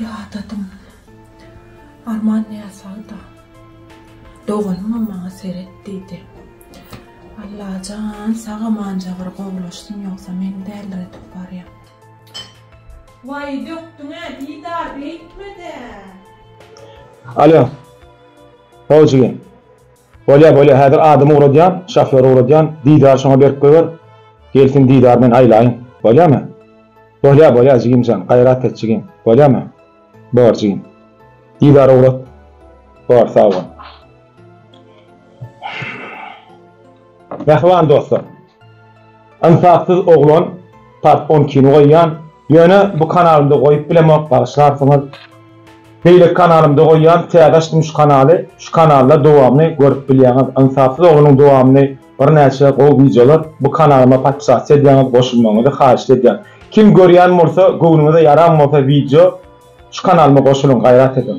Ýadadym. Arman näsagda. Doganymam maňa seret diýdi. Allajan sag-amanja bir gowulaşsyn ýogsa men däldir ötüp barýan. Waý dökdüň-ä Didar beýtme-dä. Alo. Howjigi. Bolýa bolýa häzir adamy ugradýan şofýory ugradýan Didary şoňa berip goýber gelsin Didary men aýlaýyn bolýamy Bolýa bolýa jigimjan gaýrat et jigim bolýamy Bor jigim Didary ugrat Bor sag bol. Mähriban dostlar. Ynsapsyz oglan part on ikini goýýan ýöne bu kanalymda goýup bilemok bagyşlarsyňyz beýleki kanalymda goýýan täze açdym şu kanaly şu kanalda dowamyny görüp bilýäňiz ynsapsyz oglanyň dowamyny birnäçe gowy wideolar bu kanalyma podpisasiýa edýäňiz goşulmagyňyzy haýyşt edýän kim görýän bolsa göwnüňize ýaran bolsa wideo şu kanalyma goşulyň gaýrat ediň.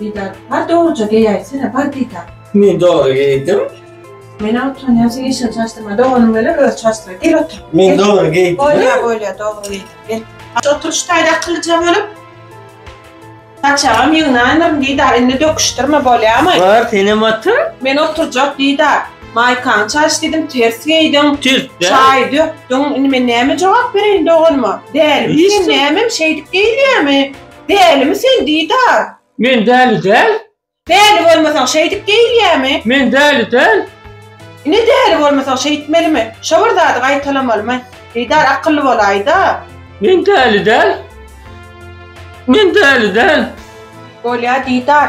Didar, bar dogruja geýäýsene, bar Didar. Men dogry geýdim. Men-ä utanýan, sen işiňi çalyşdyrma, doganyň welin özi çalyşdyr. Gel otur. Men dogry geýdim. Bolýar, bolýar, dogry geýdim. Gel. Oturyş taýda akyllyja bolup, saçagam ýygnaýmaryn Didar, indi döküşdirme, bolýamy? Bar, senem otur. Men oturjak Didar. Maýkaňy çalyş diýdim, ters geýdiň. Ters-dä. Çaýy dökdüň. Indi men näme jogap bereýin doganyma? Dälimi sen, nämem, şeýdip geýilýärmi? Dälimi sen Didar? Men däli däl. Däli bolmasaň şeýdip geýilýämi? Men däli däl. Ine däli bolmasaň şeýtmelimi? Şo bir zady gaýtalamalymy? Didar akylly bolaýda. Men däli däl. Men däli däl. Bolýa Didar.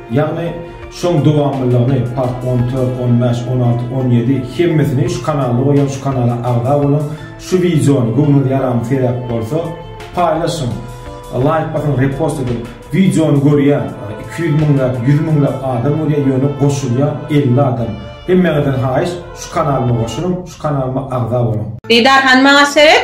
Ýagny şoň dowamlylygyny part on dört on bäş on alty on ýedi hemmesini şu kanalda goýan şu kanala agza boluň şu wideony göwnüňiz ýaram seräp bolsa paýlaşyň laýk basyň repost ediň wideony görýä iki ýüz müňläp ýüz müňläp adam görýä ýöne goşulýa elli adam hemmäňizden haýyş şu kanalyma goşulyň şu kanalyma agza boluň. Didar hanym maňa seret.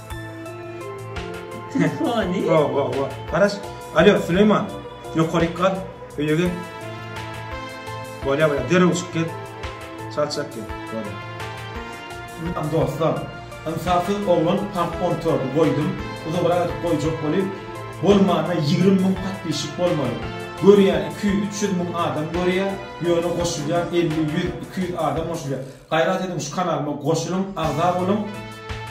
Telefony. Wa wa wa. Garaş. Alo, Süleýman. Ýokaryk gal. Öýe gel. Bolýa bolýa. Derrew çyk gel. Çal çak gel. Bolýa. Am dostlar. Ynsapsyz oglan part on tordy goýdum. Uzagrak goýjak boly. Bolmana ýigrimi müň patpişik bolmaly. Görýä iki ýüz üç ýüz müň adam görýä. Ýöne goşulýan elli ýüz iki ýüz adam goşulýa. Gaýrat ediň şu kanalyma goşulyň agza boluň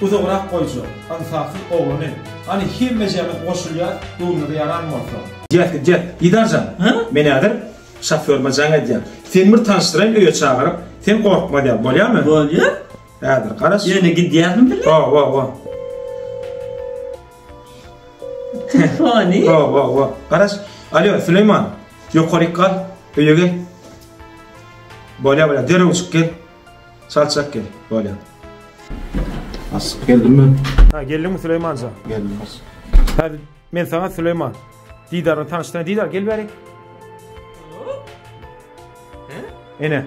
uzagrak goýja ynsapsyz oglany hany hemmejämiz goşulýas göwnüňize ýaran bolsa. Jet git jet. Didarjan, men häzir şoförime jaň edýän. Seni bir tanyşdyraýyn öýe çagyryp, sen gorkma däl, bolýamy? Bolýar. Häzir garaş. Ýöne gidýärin bile. Ho-ho-ho. Telefony. Ho-ho-ho. Garaş. Alýo, Süleýman. Ýokaryk gal, öýe gel. Bolýa bolýa derrew çyk gel. Çalçak gel. Bolýa. As geldim ben. Ha geldiňmi Süleýmanja? Geldim as. Hadi men sana Süleýman. Didardan tanışdyran Didar gel bäri. Ene.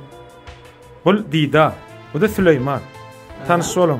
Bul Didar. Bu da Süleýman. Tanış boluň.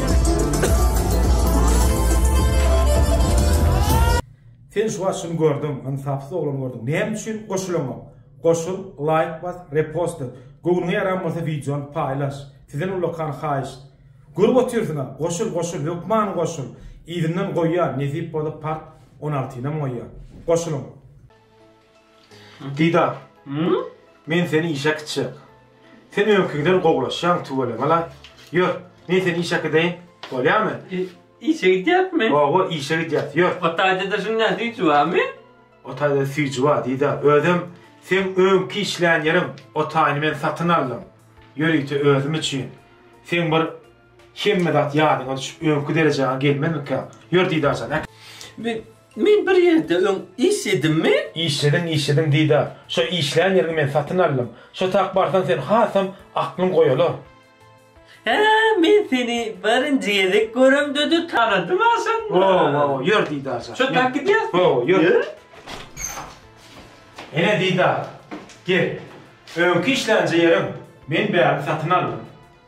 Sen şu wagt şuny gördüň, ynsapsyz oglany gördüň. Näme üçin goşulanok? Goşul, laýk bas, repost et. Göwnüňe ýaran bolsa wideony paýlaş. Sizden ullakan haýyş. Görüp otyrsyňa, goşul, goşul, hökman goşul. Yzyndan goýýan, nesip bolsa part on altynam goýýan. Goşulyň! Dida, men seni işe äkitjek. Sen öňküňden gowulaşýaň, tüweleme-la. Ýör, men seni işe äkideýin, bolýamy? Işe gidýäňmi? Hawa, işe gidýäs, ýör. O taýda-da şuň näme süýji barmy? O taýda süýji bar, Dida. Özem seň öňki işlän ýeriň, o taýyny men satyn aldym. Ýörite özüm üçin. Seň bir hemme zat ýadyňa düşüp, öňki derejäňe gelmezmikäň? Ýör, Dida jan, äkit. Men Men bir ýerde öň işledimmi? Işlediň, işlediň, Didar. Şo işlän ýeriňi men satyn aldym. Şo tak barsaň sen hasam aklyň goýalar. Hä, men seni birinji gezek göremde-de tanadym aşynda. Ho-ho, ýör, Didar jan. Şo tak gidýäs. Ho-ho, ýör. Ýör. Ine, Didar, gel. Öňki işlänje ýeriň, men bärini satyn aldym.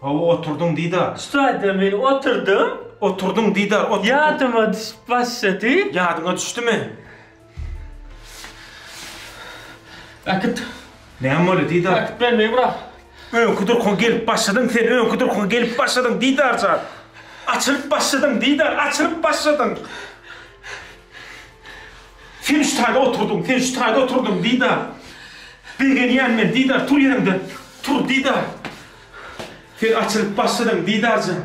Hawa oturdyň Didar. Ştaýda men oturdyň. Oturdyň Didar oturdyň. Ýadyma düşüp başlady. Ýadyňa düşdümi? Äkit. Näme boldy Didar? Äkit men meý brak. Öňki durkuňa gelip başladyň sen öňki durkuňa gelip başladyň Didar jan. Açylyp başladyň Didar açylyp başladyň. Sen ştaýda oturdyň sen ştaýda oturdyň Didar. Begenýän men Didar tur ýeriňden tur Didar. Sen açylyp başladyň, Didar jan.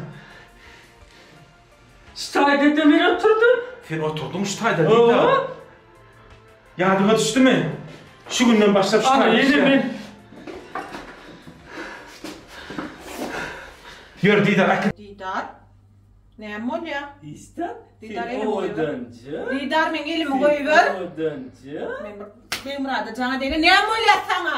Şu taýda-da men oturdym. Sen oturdyň şu taýda, Didar. Hawa. Ýadyňa düşdümi? Şu günden başlap şu taýda. Ana, ýene men. Ýör, Didar, äkit. Didar, näme bolýar? Didar, Didar elimi goýber. Didar, meň elimi goýber. Men Begmyrada jaňa degin. Näme bolýar saňa?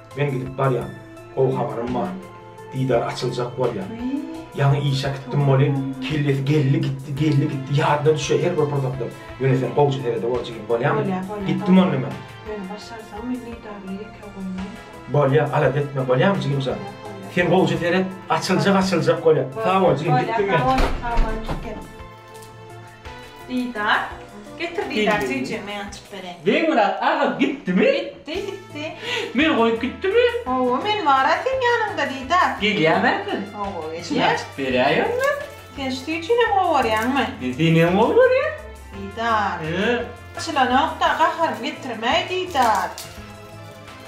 Men gidip barýan. Gowy habarym bar. Didar açyljak bolýar. Ýaňy işe gitdim boly, kellesi geldi gitdi, geldi gitdi, ýadyna düşýär her bir pursatda. Ýöne sen gowja serede bol jigim, bolýamy? Bolýar, bolýar. Gitdim onda men. Ýöne başarsam men Didarly ýeke goýmaýyn. Bolýar, alada etme, bolýamy jigim jan? Bolýar, bolýar. Sen gowja seret, açyljak, açyljak bolýar. Sag bol jigim, gitdim men. Bolýar, sag bol, sag bol, gitdim. Didar. Getir Didar süýjümi ýançyp bereýin. Begmyrat aga gitdimi? Gitdi, gitdi. Meni goýup gitdimi? Hawa, men bar-a seň ýanyňda Didar. Gelýärmi ähli? Hawa, gelýär. Çynaşyp berýär ýöne. Sen süýjüni gowarýaňmy? Men senem gowarýan. Didar. Çylanok-da, gaharymy getirme-aý Didar.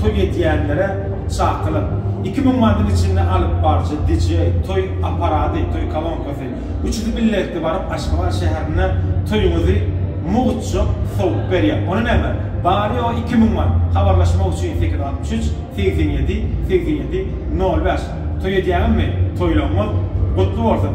Toý edýänlere çakylyk. Iki müň mandyň içinde alypbaryjy, DJ, toý aparady, toý kolonkasy, Üçüsi bilelikde baryp Aşgabat şäherinde toýuňyzy mugtja sowup berýär. Ony näme? Bary ýogy iki müň manat. Habarlaşmak üçin sekiz altmyş üç segsen ýedi segsen ýedi nol bäş. Toý edýäňizmi? Toýlaryňyz gutly bolsun!